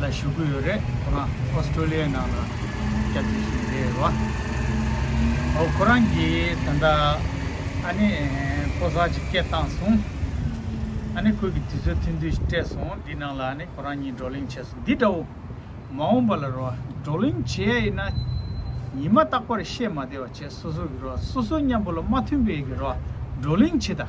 ལ་ཞུགས་ཀྱི་ཡོད་རེད་ཁོ་རང Australia ནང་ལ་སྐྱབས་བཅོལ་ཞུས་ཀྱི་རེད་བ། ཨོ་ཁོ་རང་གིས་ད་ལྟ་ཨ་ནི་ཕོ་གསར་ཅིག་སྐྱེས་བཏང་སོང། ཨ་ནི་ཁོས་ཀྱི་དུས་ཚོད་ཐུང་ཐུང་ཞིག་སྤྲད་སོང་འདི་ནང་ལ་ཨ་ནི་ཁོ་རང་གཉིས་བགྲོ་གླེང་བྱས་སོང་འདི་འདྲ་བོ། མ་འོངས་པ་ལ་རོ་བགྲོ་གླེང་བྱེད་ཡ་ཡིན་ན་ཉི་མ་རྟག་པར་བཤད་མ་བདེ་བ་བྱས་སོ་སོ་གྱི་རོ་སོ་སོ་མཉམ་པོ་ལ་མ་མཐུན་པའི་གི་རོ་བགྲོ་གླེང་བྱེད་ད།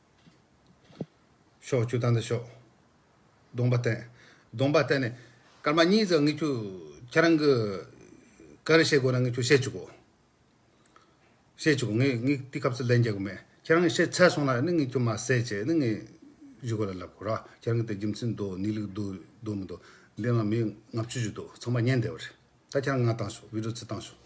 ཕྱོགས་བཅུ་དང་ནི་ཕྱོགས། སྡོམ་པ་བསྟན། སྡོམ་པ་བསྟན་ནས། སྐར་མ་གཉིས་ཙམ་ངེས་ཁྱོད་ཁྱེད་རང་གི། ག་རེ་བཤད་དགོས་ན་ངེས་ཁྱོད་བཤད་བཅུག་གོ། བཤད་བཅུག་གོ་ངས་ངས་དེ་སྐབས་སུ་ལན་རྒྱག་གི་མེད། ཁྱེད་རང་གི་བཤད་ཚད་སོང་ན་ནི་ངེས་ཁྱོད་མ་བསད་ཅེས་ནི་ངས། ཇུས་གོ་ལ་ལབ་གོ་ར་ཁྱེད་རང་གི་དེ་རྒྱུ་མཚན་འདུག་གནས་ལུགས་འདུག་འདུག་མི་འདུག་འདི་ནང་མི་ལྔ་བཅུ་བཞི་འདུག་ཚང་མ་ཉན་བསྡད་པ་རེད། ད་ཁྱེད་རང་ང་བཏང་ཤོག་བིད་རོ་ཚིག་བཏང་ཤོག།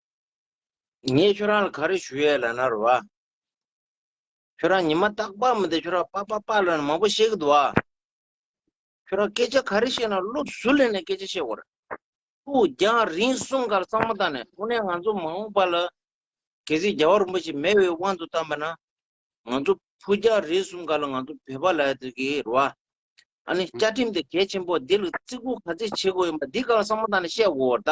ངས་ཁྱོད་རང་ལ་ག་རེ་ཞུ་ཡས་ལ་ན་རོ་ཨ། ཁྱོད་རང་ཉི་མ་ཏག་པག་མི་འདི་ཁྱོད་རང་པག་པག་པག་ལ་ན་མང་པོ་བཤད་གི་འདུག་ཨ། ཁྱོད་རང་སྐད་ཆ་ག་རེ་བཤད་ན་བློ་བཟུ་ལེ་ནས་སྐད་ཆ་བཤད་གོར། ཕུག་རྒྱང་རིང་གསུམ་གར་གཙང་མ་བཏང་ནས་དངོས་གནས་ང་ཚོ་མ་འོངས་པ་ལ་གལ་སྲིད་རྒྱ་བ་རིན་པོ་ཆེ་མེད་བའི་དབང་དུ་བཏང་པ་ན། ང་ཚོ་ཕུག་རྒྱང་རིང་གསུམ་ག་ལ་ང་ཚོ་བོད་པ་ལ་ཡ་འདུག་གི་རོ་ཨ། ཨ་ནི་བཅའ་ཁྲིམས་དེ་གལ་ཆེན་པོ་འདི་ལ་བརྩི་བཀུར་ག་ཚད་བྱེད་དགོས་ཡིན་པ་འདི་ག་ལ་གཙང་མ་བཏང་ནས་བཤད་གོར་ད།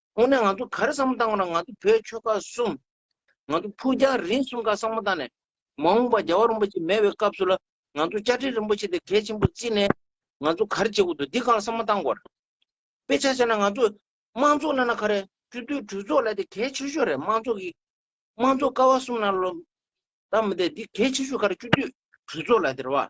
ཁོང་ནས་ང་ཚོ་ག་རེ་བསམ་བློ་བཏང་བ་ན་ང་ཚོ་བོད་ཆོལ་ཁ་གསུམ། ང་ཚོ་ཕུགས་རྒྱང་རིང་གསུམ་ཀ་བསམ་བློ་བཏང་ནས། མ་འོངས་པ་རྒྱལ་བ་རིན་པོ་ཆེ་མེད་པའི་སྐབས་སུ་ལ་ང་ཚོ་བཅའ་ཁྲིམས་རིན་པོ་ཆེ་དེ་གལ་ཆེན་པོ་བརྩིས་ནས། ང་ཚོ་ག་རེ་བྱེད་དགོས་འདུག་འདི་གང་ལ་བསམ་བློ་བཏང་དགོས་རེད། དཔེ་ཆ་བྱས་ན་ང་ཚོ་དམངས་གཙོ་གནང་ན་ག་རེ། སྤྱི་འཐུས་གྲོས་ཚོགས་ལ་དེ་གལ་ཆེ་ཤོས་རེད་དམངས་གཙོ་གི། དམངས་གཙོ་ཀ་བ་གསུམ་ནང་ལོ། ད་མི་འདེད་འདི་གལ་ཆེ་ཤོས་ག་རེ་སྤྱི་འཐུས་གྲོས་ཚོགས་ལ་དེ་རེད་བ།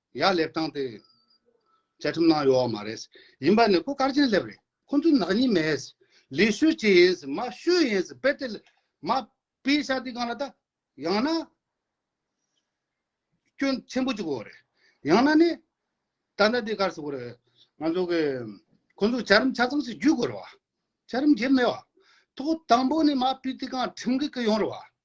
ཡག་ལེབ་བཏང་སྟེ། བཅའ་ཁྲིམས་ནང་ཡོད་མ་རེད། ཡིན་པ་ནི་སྐུ་དཀར་ཆེན་ལེབ་རེད། ཁོ་ཚོ་ནག་ཉེས་མེད། ལས་ཤོད་ཅིག་ཡིན། མ་ཤོད་ཡིན། དཔེ་དེ། མ། པའི་ཤ་དེ་གང་ལ་བལྟ། ཡང་ན། སྐྱོན། ཆེན་པོ་ཅིག་གོ་རེད། ཡང་ན་ནི། ད་ལྟ་དེ་གར་སོང་གོ་རེད། ང་ཚོ་གི། ཁོ་ཚོ་བཅའ་རིམ་ཆ་ཚང་ཞིག་བརྒྱུད་དགོས་རེད་བ། བཅའ་རིམ་བརྒྱུད་མེད་བ། ཐོག་དང་པོ་ནི་མ། པའི་དེ་གང་ཁྲིམས་གི་གི་ཡོང་རེད་བ།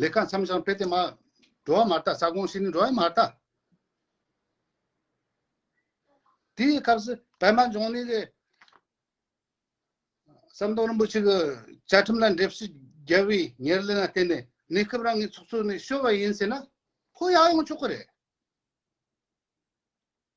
ལེ་ཁ་མཚམས་བྱང་བེ་ཏེ་མ། འགྲོ་བ་མ་རྟ་ས་གོང་ཤི་ནི་འགྲོ་བའི་མ་རྟ། དེའི་སྐབས་སུ་བལ་མ་འབྱུང་ནི་ལས། ཟམ་གདོང་རིན་པོ་ཆེ་གི་བཅའ་ཁྲིམས་ལ་འགྲེལ་བཤད་རྒྱལ་བའི་ཉེར་ལེན་ལ་བརྟེན་ནས་གནས་སྐབས་རང་གི་ཚོགས་གཙོ་ནས་བཤོལ་བ་ཡིན་ཟེར་ན་ཁོ་ཡག་ཡོང་ཆོག་གི་རེད།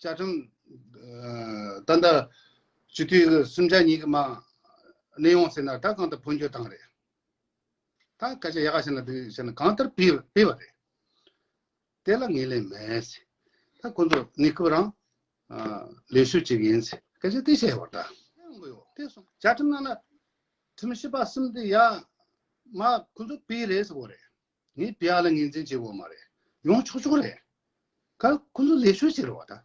བཅའ་ཁྲིམས། ད་ལྟ། སྤྱི་འཐུས་ཀྱི་གསུམ་ཆ་གཉིས་ཀྱི་མང་གནས་ཡོང་ཟེར་ན་ད་གང་ལྟར་འཕོ་འགྱུར་བཏང་རེད། ད་སྐད་ཆ་ཡག་བཤད་ན་འདི་བྱས་ན་གང་ལྟར་སྤེལ་བ་རེད། དེ་ལ་ངེས་ལེན་མེད། ད་ཁོ་ཚོ་གནས་སྐབས་རང། ལས་ཞུགས་བྱེད་མཁན་ཚོས་སྐད་ཆ་དེ་བཤད་བར་ད། བཅའ་ཁྲིམས་ནང་ན། ཁྲིམས་ཞིབ་པ་གསུམ་དེ་ཡག། མ་ཁོ་ཚོ་སྤེལ་རེད་ཟེར་བ་རེད། ངས་དཔེ་ཨ་ལ་ངེས་འཛིན་བྱེད་འོས་མ་རེད། ཡོང་ཆོག་ཆོག་རེད། ཁ་ཁོ་ཚོ་ལས་ཤོད་བྱེད་རོགས་ཨ་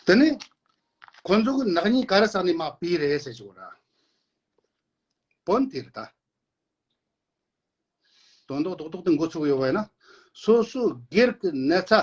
ཐ། དེ་ནས་ཁོ་ཚོ་གི་ནག་ཉེས་ག་རེ་ས་ནས་མ་པི་རེད་ཟེར་བྱོ་ར། བོན་དེ་རེད་ད། དོན་ཏོག་ཏོག་ཏོག་ཏུ་འགོ་ཚུགས་ཡོད་པ་ཡིན་ན། སོ་སོའི་སྒེར་གི་ནད་ཚ་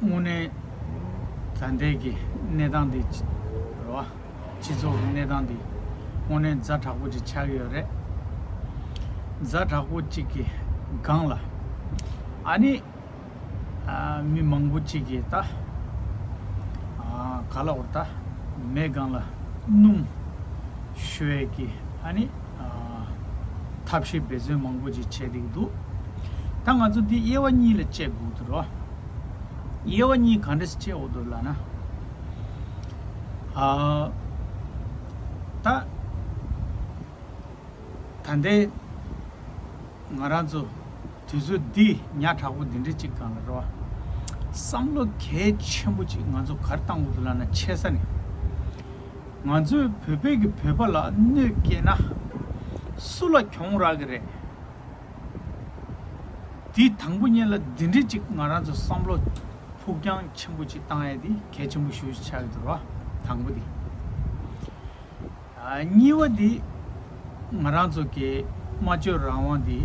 དངོས་གནས་མཛའ་འབྲེལ་གྱི་གནས་སྟངས་འདི་རེད་བ། སྤྱི་ཚོགས་ཀྱི་གནས་སྟངས་འདི་དངོས་གནས་མཛའ་དྲག་པོ་ཅིག་ཆགས་ཀྱི་ཡོད་རེད། མཛའ་དྲག་པོ་ཅིག་གི་སྒང་ལ། ཨ་ནི། མི་མང་པོ་ཅིག་གིས་ད། ག་ལ་བོར་ད། མེད་སྒང་ལ་སྣུམ། ཞུ་བས་ཀྱི་ཨ་ནི། ཐབས་ཤེས་འབད་བརྩོན་མང་པོ་ཅིག་བྱས་འདུག་འདུག་ད་ང་ཚོ་འདི་དབྱེ་བ་གཉིས་ལ་དཔྱད་དགོས་འདུག་རོ། དབྱེ་བ་གཉིས་གང་འདྲ་ཞིག་དཔྱད་འོ་འདུག་ལགས་ན། ད་ལྟའི་ང་རང་ཚོ་དུས་ཚོད་འདི་ཉག་དྲག་པོ་འདི་འདྲ་ཅིག་གང་ལ་རོ། བསམ་བློ་གལ་ཆེན་པོ་ཅིག་ང་ཚོ་གར་བཏང་འོ་འདུག་ལགས་ན་ཆེ་ས་ནས། ང་ཚོའི་བོད་པས་ཀྱི་བོད་པ་ལ་གནོད་སྐྱེལ་ན། སུ་ལ་གྱོང་རག་གི་རེད། དེ་དང་པོ་གཉིས་ལ་འདི་འདྲི་གཅིག་ང་རང་ཚོ་བསམ་བློ་ཕུགས་རྒྱང་ཆེན་པོ་གཅིག་བཏང་ཡས་དེ་གལ་ཆེན་པོ་ཞུ་ཆགས་ཀྱི་དོར་བ་དང་པོ་དེ། གཉིས་བ་དེ་ང་རང་ཚོ་གི་སྨྲ་བརྗོད་རང་དབང་དེ།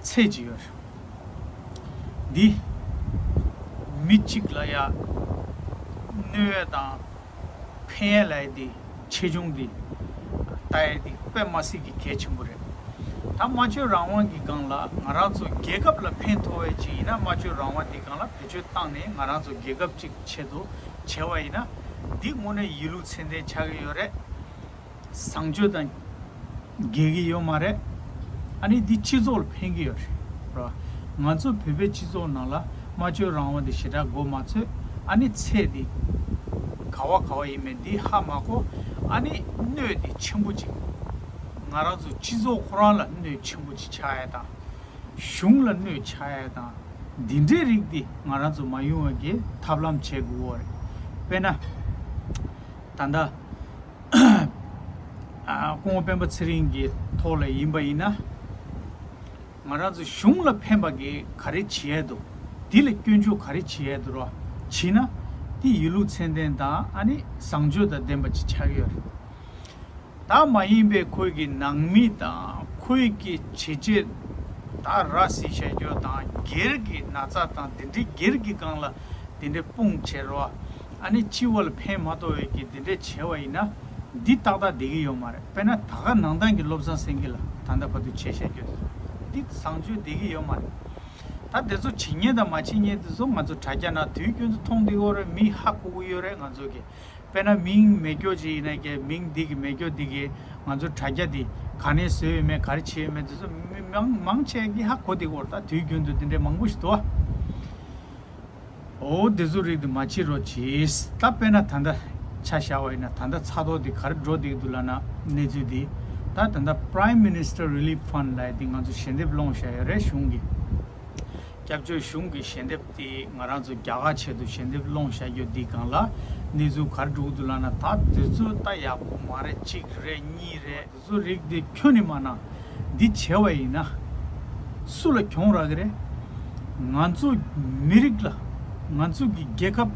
ཚད་ཅི་ཡོད། འདི། མི་གཅིག་ལ་ཡ། བསྣོལ་ཡས་དང། འཕེན་ཡས་ལ་ཡས་འདི་ཆེ་ཆུང་འདི། ལྟ་ཡས་འདི་པདྨ་སྲིད་ཀྱི་གལ་ཆེན་པོ་རེད། ད་སྨྲ་བརྗོད་རང་དབང་གི་སྒང་ལ་ང་རང་ཚོ་རྒྱལ་ཁབ་ལ་ཕན་ཐོག་བས་ཅིག་ཡིན་ན་སྨྲ་བརྗོད་རང་དབང་འདི་སྒང་ལ་བེད་སྤྱོད་བཏང་ནས་ང་རང་ཚོ་རྒྱལ་ཁབ་ཅིག་ཆེད་དུ་བྱས་བ་ཡིན་ན། འདི་དངོས་གནས་ཡིད་ལུགས་ཚད་ལྡན་ཆགས་ཀྱི་ཡོད་རེད། བཟང་སྤྱོད་དང། འགལ་གྱི་ཡོད་མ་རེད། ཨ་ནི་འདི་སྤྱི་ཚོགས་ལ་ཕན་གྱི་ཡོད་རེད། ང་ཚོ་བོད་པའི་སྤྱི་ཚོགས་ནང་ལ་སྨྲ་བརྗོད་རང་དབང་དེ་ཞེ་དྲག་མགོ་མ་ཚོས་ཨ་ནི་ཚད་དེ། ག་བ་ག་བ་ཡིན་མེད་འདི་ཧ་མ་གོ། ཨ་ནི་གནོད་དེ་ཆེན་པོ་ཅིག། ང་རང་ཚོ་སྤྱི་ཚོགས་ཁོ་རང་ལ་གནོད་ཆེན་པོ་ཅིག་ཆགས་ཡས་དང། གཞུང་ལ་གནོད་ཆགས་ཡས་དང། འདི་འདྲའི་རིགས་དེ་ང་རང་ཚོ་མ་ཡོང་བའི་གི་ཐབས་ལམ་བྱེད་དགོས་འོ་རེད། དཔེ་ན། ད་ལྟ། སྐུ་ངོ་སྤེན་པ་ཚེ་རིང་གི་ཐོག་ལས་ཡིན་པ་ཡིན་ན། ང་རང་ཚོ་གཞུང་ལ་ཕན་པ་གི་ག་རེ་བྱེད་ཡས་འདུག་དེ་ལ་སྐྱོན་བརྗོད་ག་རེ་བྱེད་ཡས་འདུག་རོ་བྱེད་ན། དེ་ཡིན་ལུགས་མཚན་ལྡན་དང་ཨ་ནི་བཟང་སྤྱོད་དང་ལྡན་པ་ཅིག་ཆགས་ཡོད་རེད། ད་མ་ཡིན་པའི་ཁོས་ཀྱི་ནང་མི་དང་ཁོས་ཀྱི་བྱེད་རྗེས་ད་ར་སི་བཤད་རྒྱོ་དང་སྒེར་གྱི་ན་ཚ་དང་དེ་འདྲི་སྒེར་གྱི་སྒང་ལ་དེ་འདྲི་དཔུང་བྱེད་རོ། ཨ་ནི་སྤྱི་བོ་ལ་ཕན་མ་ཐོག་འོད་ཀྱིས་འདི་འདྲས་བྱས་བ་ཡིན་ན། འདི་ཏག་ཏག་བསྡད་ཀྱི་ཡོད་མ་རེད་དཔེར་ན་ད་ག་ནང་ཏང་གི་བློ་བཟང་སེང་གེ་ལ་ད་ལྟ་བར་དུ་བྱས་བཤད་རྒྱུ་དེ་འདི་བཟང་སྤྱོད་བསྡད་ཀྱི་ཡོད་མ་རེད། ད་དེ་ཚོ་བྱེད་ཉེས་དང་མ་བྱེད་ཉེས་དེ་ཚོ་ང་ཚོ་དྲ་རྒྱ་ན་དུས་རྒྱུན་དུ་མཐོང་འདི་འོ་རེད་མི་ཧ་གོ་གི་ཡོད་རེད་ང་ཚོ་གི་དཔེར་ན་མིང་མེད་སྐྱོ་ཅིག་ཡིན་ན་ཀྱེ་མིང་འདི་གི་མེད་སྐྱོ་འདི་གིས་ང་ཚོ་དྲ་རྒྱ་འདི་ག་ནས་བཟོས་ཡོད་མེད་ག་རེ་བྱས་ཡོད་མེད་དེ་ཚོ་མི་མང་ཆེ་གི་ཧ་གོ་འདི་གོ་རེད་ད་དུས་རྒྱུན་དུ་འདི་འདྲས་མང་པོ་ཞིག་དུ་བ། ཨོ་དེ་ཚོ་རིགས་དེ་མ་བྱེད་རོགས་གྱིས་ད་དཔེ་ན་ད་ལྟ་ཆ་བཞག་བ་ཡིན་ན་ད་ལྟ་ཚགས་ཐོག་དེ་གར་འགྲོ་བསྡད་འདུག་ལབ་ན་གནས་ཚུལ་དེ་ད་ད་ལྟ Prime Minister Relief Fund ལ་དེ་ང་ཚོ་ཞལ་འདེབས་སློང་བཞག་ཡོད་རེད་གཞུང་གི་སྐྱབས་བཅོལ་གཞུང་གི་ཞལ་འདེབས་དེ་ང་རང་ཚོ་རྒྱ་གར་ཆེད་དུ་ཞལ་འདེབས་སློང་བཞག་རྒྱུ་དེ་གང་ལ་གནས་ཚུལ་གར་འགྲོ་གི་འདུག་ལབ་ན་ད་དེ་ཚོ་ད་ཡག་པོ་མ་རེད་གཅིག་རེད་གཉིས་རེད། གསོ་རིག་འདི་ཁྱོད་ནི་མ་ན། འདི་བྱེད་བ་ཡིན་ན། སུ་ལ་གྱོང་རག་གི་རེད། ང་ཚོ་མི་རིགས་ལ། ང་ཚོ་གི་རྒྱལ་ཁབ།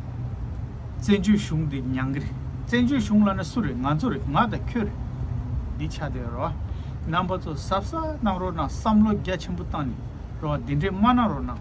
བཙན་བྱོལ་གཞུང་འདི་མྱང་གི་རེད། བཙན་བྱོལ་གཞུང་ལ་ན་སུ་རེད་ང་ཚོ་རེད་ང་དང་ཁྱོད་རེད། འདི་ཆ་དེ་རོ། རྣམ་པ་ཚོ་ཟབ་ས་གནང་རོགས་གནང་བསམ་བློ་རྒྱ་ཆེན་པོ་བཏང་ནས་རོགས་འདི་འདྲས་མ་གནང་རོགས་གནང།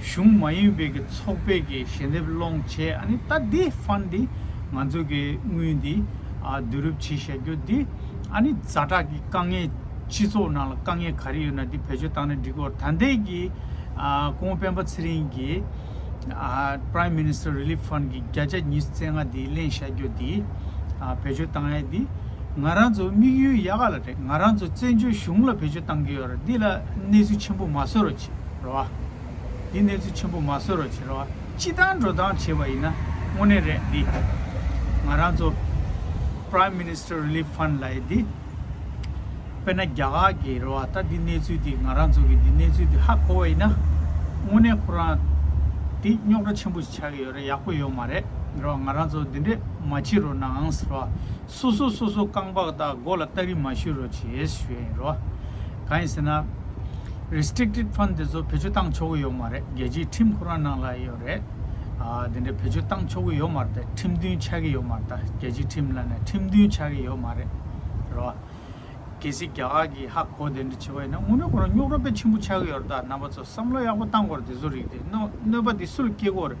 གཞུང་མ་ཡིན་པའི་གི་ཚོགས་པའི་གི་ཞལ་འདེབས་སློང་བྱས་ཨ་ནི་ད་དེ་ཧྥན་དེ་ང་ཚོ་གི་དངུལ་འདི་བསྡུ་རུབ་བྱེད་བྱ་རྒྱུ་དེ་ཨ་ནི་རྫ་དྲག་གི་དཀའ་ངལ་སྤྱི་ཚོགས་ནང་ལ་དཀའ་ངལ་ག་རེ་ཡོད་ན་དེ་བེད་སྤྱོད་བཏང་ན་འགྲིག་གོ་ད་ལྟའི་གི་ཀོང་སྤེན་པ་ཚེ་རིང་གི Prime Minister Relief Fund གི་བརྒྱ་ཆ་ཉིས་བརྩེགས་ལྔ་དེ་གླེང་བྱ་རྒྱུ་དེ་བེད་སྤྱོད་བཏང་ཡས་དེ་ང་རང་ཚོ་དམིགས་ཡུལ་ཡག་ག་ལ་རེད་ང་རང་ཚོ་བཙན་བྱོལ་གཞུང་ལ་བེད་སྤྱོད་བཏང་གི་ཡོད་རེད་འདི་ལ་གནས་ཚུལ་ཆེན་པོ་མ་བཟོ་རོགས། རེད་བ། འདི་གནས་ཚུལ་ཆེན་པོ་མ་བཟོས་རོགས་བྱེད་རེད་བ། སྤྱི་བཏང་འགྲོ་བཏང་བྱེད་པ་ཡིན་ན་དངོས་གནས་རེད་འདི། ང་རང་ཚོ། Prime Minister Relief Fund། ལ་ཡི་འདི། དཔེར་ན་རྒྱ་གར་གྱི་རེད་བ་ད་འདི་གནས་ཚུལ་འདི་ང་རང་ཚོ་གི་འདི་གནས་ཚུལ་འདི་ཧ་གོ་བ་ཡིན་ན། དངོས་གནས་ཁོ་རང། འདི་རྙོག་དྲ་ཆེན་པོ་ཞིག་ཆགས་ཀྱི་ཡོད་རེད་ཡག་པོ་ཡོད་མ་རེད་རེད་བ་ང་རང་ཚོ་འདི་འདྲས་མ་བྱེད་རོགས་གནང་རེད་བ། སོ་སོ་སོ་སོ་རྐང་པགས་དག་མགོ་ལ་སྟ་རི་མ་བཤུ་རོ་བྱེད་ཞོད་ཡིན་རོ། གང་ཡིན་ཟེར་ན། Restricted Fund དེ་ཚོ་བེད་སྤྱོད་བཏང་ཆོག་གི་ཡོད་མ་རེད་རྒྱལ་སྤྱིའི་ཁྲིམས་ཁོ་རང་ནང་ལ་ཡོད་རེད། དེ་འདྲ་བེད་སྤྱོད་བཏང་ཆོག་གི་ཡོད་མ་རེད་དེ་ཁྲིམས་མཐུན་ཆགས་ཀྱི་ཡོད་མ་རེད་རྒྱལ་སྤྱིའི་ཁྲིམས་ལ་ནས་ཁྲིམས་མཐུན་ཆགས་ཀྱི་ཡོད་མ་རེད་རོ། གལ་སྲིད་རྒྱ་གར་གྱིས་ཧ་གོ་དེ་འདྲ་བྱེད་པ་ཡིན་ན་དངོས་གནས་ཁོ་རང་རྙོག་ར་དཔེ་ཆེན་པོ་ཆགས་ཀྱི་ཡོད་རེད་ད་རྣམ་པ་ཚོ་བསམ་བློ་ཡག་པོ་བཏང་དགོས་རེད་དེ་ཚོ་རིགས་དེ་གནོད་པ་དེ་སུ་ལ་སྐྱེལ་དགོས་རེད།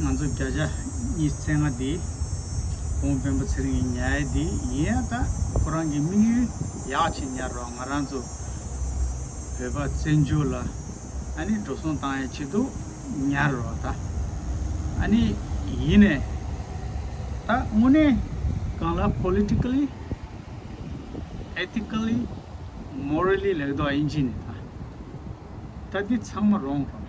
ང་ཚོ་བརྒྱ་ཆ་གཉིས་ཚན་ལྔ་འདི་གོང་དཔོན་པོ་ཚེ་རིང་གི་ཉལ་ཡ་འདི་ཡིན་ཡང་ད་ཁོ་རང་གི་དམིགས་ཡུལ་ཡག་བྱེད་ཉར་རོགས་ང་རང་ཚོ་བོད་པ་བཙན་བྱོལ་ལ་ཨ་ནི་འགྲོ་སོང་བཏང་ཡ་བྱེད་འདུག་ཉར་རོགས་ད་ཨ་ནི་ཡིན་ནས་ད་དངོས་གནས་གང་ལ Politically Ethically Morally ལེགས་འདོག་ཨིན་ཇི་ནས་ད་ད་འདི་ཚང་མ་རོང་རོང།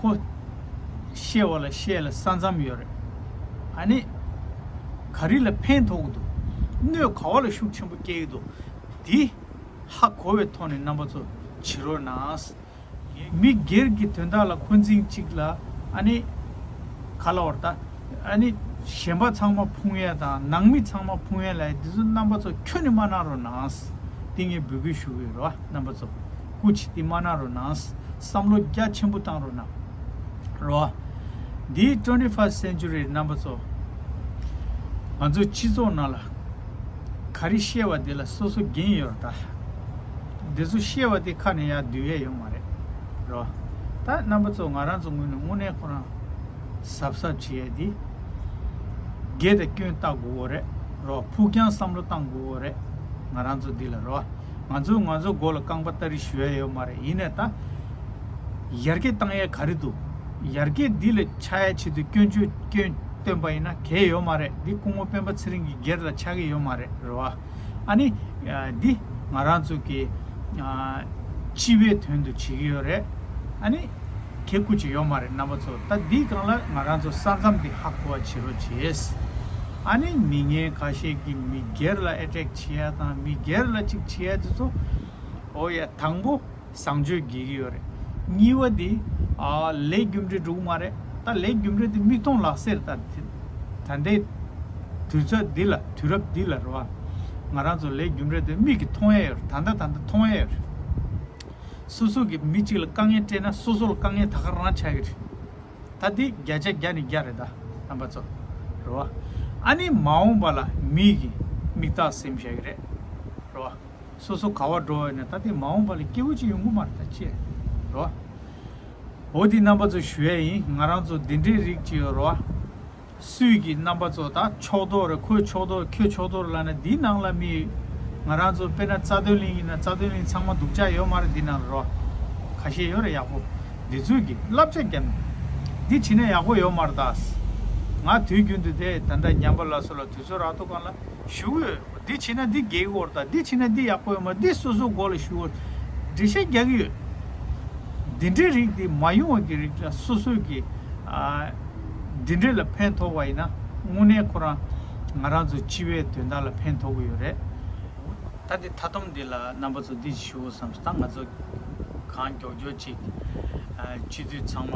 ཁོ། བཤད་བ་ལ་བཤད་ལ་ས་མཚམས་ཡོད་རེད། ཨ་ནི། ག་རི་ལ་ཕན་ཐོག་གི་འདུག། སྣོད་ག་བ་ལ་ཤུགས་ཆེན་པོ་སྐྱེལ་གི་འདུག་དེ། ཧ་གོ་བའི་ཐོག་ནས་རྣམ་པ་ཚོ་བྱི་རོ་ནའང། མི་སྒེར་གྱི་དོན་དག་ལ་འཁོན་འཛིང་གཅིག་ལ་ཨ་ནི། ག་ལ་བར་ད། ཨ་ནི། གཞན་པ་ཚང་མ་ཕུང་ཡལ་དང་ནང་མི་ཚང་མ་ཕུང་ཡལ་ལ་ཡི་དེ་ཚོ་རྣམ་པ་ཚོ་ཁྱོད་ནི་མ་གནང་རོགས་ནའང། དེ་ངས་འབོད་སྐུལ་ཞུ་གི་ཡོད་རེད་བ་རྣམ་པ་ཚོ། སྐུ་ཇི་སྟེ་མ་གནང་རོགས་གནངས། བསམ་བློ་རྒྱ་ཆེན་པོ་བཏང་རོགས་གནང། རོ། འདིའི twenty first century རྣམ་པ་ཚོ། ང་ཚོ་སྤྱི་ཚོགས་ནང་ལ། ག་རེ་བཤད་བ་དེ་ལ་སོ་སོ་འགན་ཡོད་རོགས་གདའ། འདི་ཚོ་བཤད་བ་དེ་ཁ་ནས་ཡར་བསྡུས་ཡས་ཡོང་མ་རེད། རོ། ད་རྣམ་པ་ཚོ་ང་རང་ཚོ་ངོས་ནས་དངོས་གནས་ཁོ་རང། གཟབ་གཟབ་བྱེད་ཡས་དེ། དགེ་དང་སྐྱོན་བལྟ་དགོ་རེད། རོ། ཕུགས་རྒྱང་བསམ་བློ་བཏང་དགོ་རེད། ང་རང་ཚོ་འདི་ལ་རོ། ང་ཚོས་ང་ཚོའི་མགོ་ལ་རྐང་པ་སྟ་རེ་བཞི་ཡོད་མ་རེད་ཡིན་ནས་ད། ཡར་རྒྱས་བཏང་ཡས་ག་རེ་འདུག་ཡར་རྒྱས་འདི་ལ་ཆགས་ཡས་ཆེད་དུ་སྐྱོན་བརྗོད་སྐྱོན་བཏོན་པ་ཡིན་ན་གས་ཡོད་མ་རེད་འདི་སྐུ་ངོ་སྤེན་པ་ཚེ་རིང་གི་སྒེར་ལ་ཆགས་ཀྱི་ཡོད་མ་རེད་རེད་བ། ཨ་ནི། འདི་ང་རང་ཚོ་གི། སྤྱི་བའི་དོན་དུ་བྱེད་ཀྱི་ཡོད་རེད། ཨ་ནི། གས་བཀུར་བྱེད་ཡོད་མ་རེད་རྣམ་པ་ཚོ་ད་འདི་གང་ལ་ང་རང་ཚོ་ས་མཚམས་འདི་ཧ་གོ་བ་བྱེད་རོགས་བྱས། ཨ་ནི་མི་ངན་ཁ་ཤས་ཀྱི་མི་སྒེར་ལ་ཨེ་ཏྲེག་བྱེད་ཡ་དང་མི་སྒེར་ལ་ཅིག་བྱེད་ཡ་དེ་ཚོ་ཨོ་ཡ་དང་པོ་བཟང་སྤྱོད་དགེ་གི་ཡོད་རེད་གཉིས་བ་དེ་ལས་རྒྱུ་འབྲས་འགྲུག་མ་རེད་ད་ལས་རྒྱུ་འབྲས་དེ་མིག་མཐོང་ལག་ཟེར་ད་ལྟའི་དུས་ཚོད་འདི་ལ་དུས་རབས་འདི་ལ་རེད་བ་ང་རང་ཚོ་ལས་རྒྱུ་འབྲས་དེ་མིག་གི་མཐོང་ཡ་ཡོད་རེད་ད་ལྟ་ད་ལྟ་མཐོང་ཡ་ཡོད་རེད་སོ་སོ་གི་མི་གཅིག་ལ་དཀའ་ངལ་སྤྲད་ན་སོ་སོ་ལ་དཀའ་ངལ་ད་ག་རང་ཆག་གི་རེད་ད་འདི་བརྒྱ་ཆ་བརྒྱ་ནི་བརྒྱ་རེད་ད་རྣམ་པ་ཚོ་རེད་བ། ཨ་ནི་མ་འོངས་པ་ལ་མིག་གིས་མིག་དག་སེམས་བཞག་གི་རེད་རེད་བ། སོ་སོ་ག་བ་འགྲོ་བས་ན་ད་འདི་མ་འོངས་པ་ལ་སྐྱེ་བོ་གཅིག་ཡོང་གི་མ་རེད་ད་ཅེས་རེད་བ། འོ་འདི་རྣམ་པ་ཚོ་ཞུ་ཡ་ཡིན་ང་རང་ཚོ་འདི་འདྲའི་རིགས་གཅིག་ཡོད་རེད་བ། སུས་ཀྱི་རྣམ་པ་ཚོ་ད་ཕྱོགས་དོར་རེད་ཁོས་ཕྱོགས་དོར་ཁྱོས་ཕྱོགས་དོར་ལ་ན་འདི་ནང་ལ་མི་ཡོད་ང་རང་ཚོ་དཔེར་ན་རྩ་དོན་གླིང་ཡིན་ན་རྩ་དོན་གླིང་ཚང་མ་སྡུག་ཅག་ཡོད་མ་རེད་འདི་ནང་ལ་རོ་ག་ཤེས་ཡོད་རེད་ཡག་པོ་འདི་ཚོས་ཀྱི་བསླབ་བྱ་རྒྱབ་ནས་འདི་བྱིན་ན་ཡག་པོ་ཡོད་མ་རེད་ད་ང་དུས་རྒྱུན་དུ་དེ་ད་འདྲ་ཉམས་པ་ལ་སོ་ལ་དུས་ཚོད་རག་ཐུག་གང་ལ་བཞུགས་ཡོད། འདི་བྱས་ན་འདི་དགེ་གི་བོར་དང་འདི་བྱས་ན་འདི་ཡག་པོ་ཡོད་མོད་འདི་སོ་སོའི་མགོ་ལ་ཞུ་བོར་འགྲེལ་བཤད་རྒྱག་གི་ཡོད། འདི་འདྲའི་རིགས་དེ་མ་ཡོང་བ་གི་རིགས་ལ་སོ་སོས་ཀྱི་འདི་འདྲའི་ལ་ཕན་ཐོགས་པ་ཡིན་ན་དངོས་གནས་ཁོ་རང་ང་རང་ཚོ་སྤྱི་བའི་དོན་དག་ལ་ཕན་ཐོགས་གི་ཡོད་རེད། ད་འདི་མཐའ་སྡོམ་འདི་ལ་རྣམ་པ་ཚོ་འདི་ཞུ་བོ་བསམ་ས་ད་ང་ཚོ་གང་མགྱོགས་མགྱོགས་ཅིག་སྤྱི་འཐུས་ཚང་མ་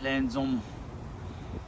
ལྷན་འཛོམས།